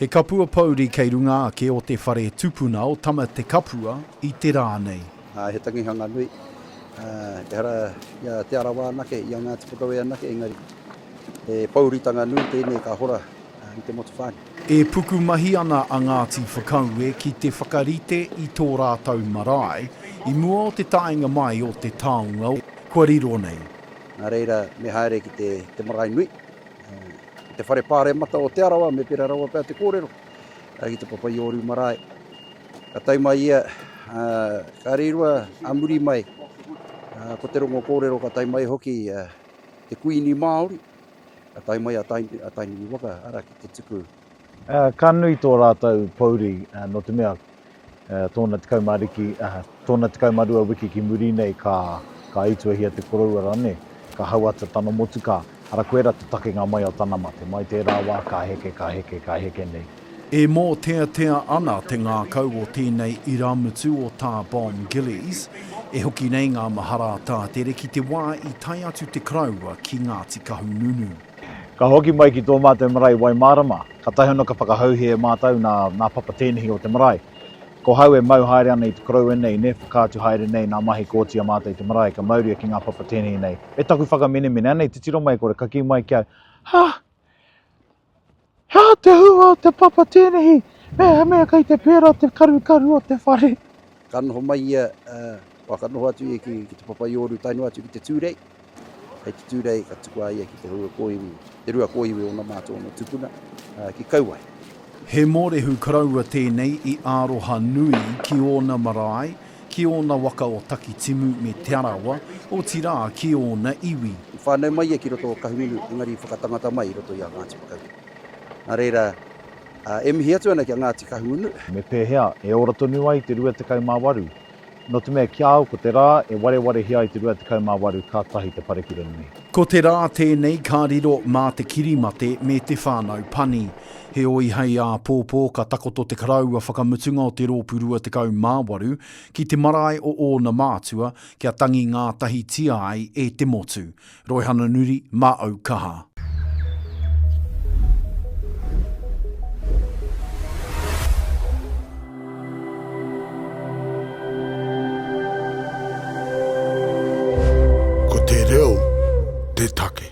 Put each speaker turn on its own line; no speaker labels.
He kapua pouri kei runga ake o te whare tupuna o Tamatekapua i te rā nei. He tangihanga
nui, ehara i a Te Arawa anake, i a Ngāti Porou anake, engari he pouritanga nui tēnei ka hora i te motu whānui. E pukumahi
ana a Ngāti Whakaue ki te whakarite i tō rātou marae i mua o te taenga mai o te taonga kua riro nei. Nā reira,
me haere ki te marae nui, ki te whare pāremata o Te Arawa, me pērā rawa pea te kōrero, ki te Papa-i-ōriu marae. Ka tae mai ia, ka reirua a muri mai, ko te rongo kōrero ka tae mai hoki te Kuini Māori, ka tae mai a Tainui Waka, arā, ki te tuku Ka
nui tō rātou pōuri nō te mea tōna 10 riki, tōna 12 wiki ki muri nei ka ituahia te koroua rane, ka hauata tana motukā, ara koera te takenga mai o tana mate, mai tērā wā ka heke, ka heke, ka heke nei. E mōteatea
ana te ngākau o tēnei irāmutu o Tā Bomb Gillies, e hoki nei ngā mahara a Tātere ki te wā i tae atu te Karaua ki Ngāti Kahungunu. Ka hoki
mai ki tō mātou marae Waimārama, kātahi anō ka whakahauhē e mātou nā, nā Papa tēnehi o te marae. Ko hau e mau haere ana i te koroua nei, nē, whakaatu haere nei nā mahi kōti a mātou i te marae, ka mauria ki ngā papa tēnehi nei. Me taku whakamenemene, anei te tiro mai kore, ka kī mai ki au, Hah! He aha te hua o te papa tēnehi mehemea kei te pērā te karukaru o te whare? Ka noho mai
ia, oa, ka noho atu ia ki te papa i Ōru tae noa atu ki te Tūrei. Hei te Tūrei ka tuku a ia ki te rua kōiwi, te rua kōiwi o ōna mā tō ōna tupuna, ki Kauae. He mōrehu
karaua tēnei i aroha nui ki ōna marae, Ki ōna waka o Takitimu me Te Arawa, otirā ki ōna iwi. I whānau mai ia ki roto
o Kahungunu, engari i whakatangata mai i roto i a Ngāti Whakaue. Nā reira, e mihi atu ana ki a Ngāti Kahungunu. Me pēhea e
ora tonu ai te rua tekau mā waru? Nō te mea, ki a au ko te rā e warewarehia ai te rua tekau mā waru kātahi te parekura nui. Ko te rā
tēnei ka riro mā te kirimate me te whānau pani. Heoi hei āpōpō ka takoto te karaua whakamutunga o te rōpū 28 ki te marae o ōna mātua kia tangi ngātahitia ai e te motu. Roihana Nuri mā au kaha. Ko te reo te take.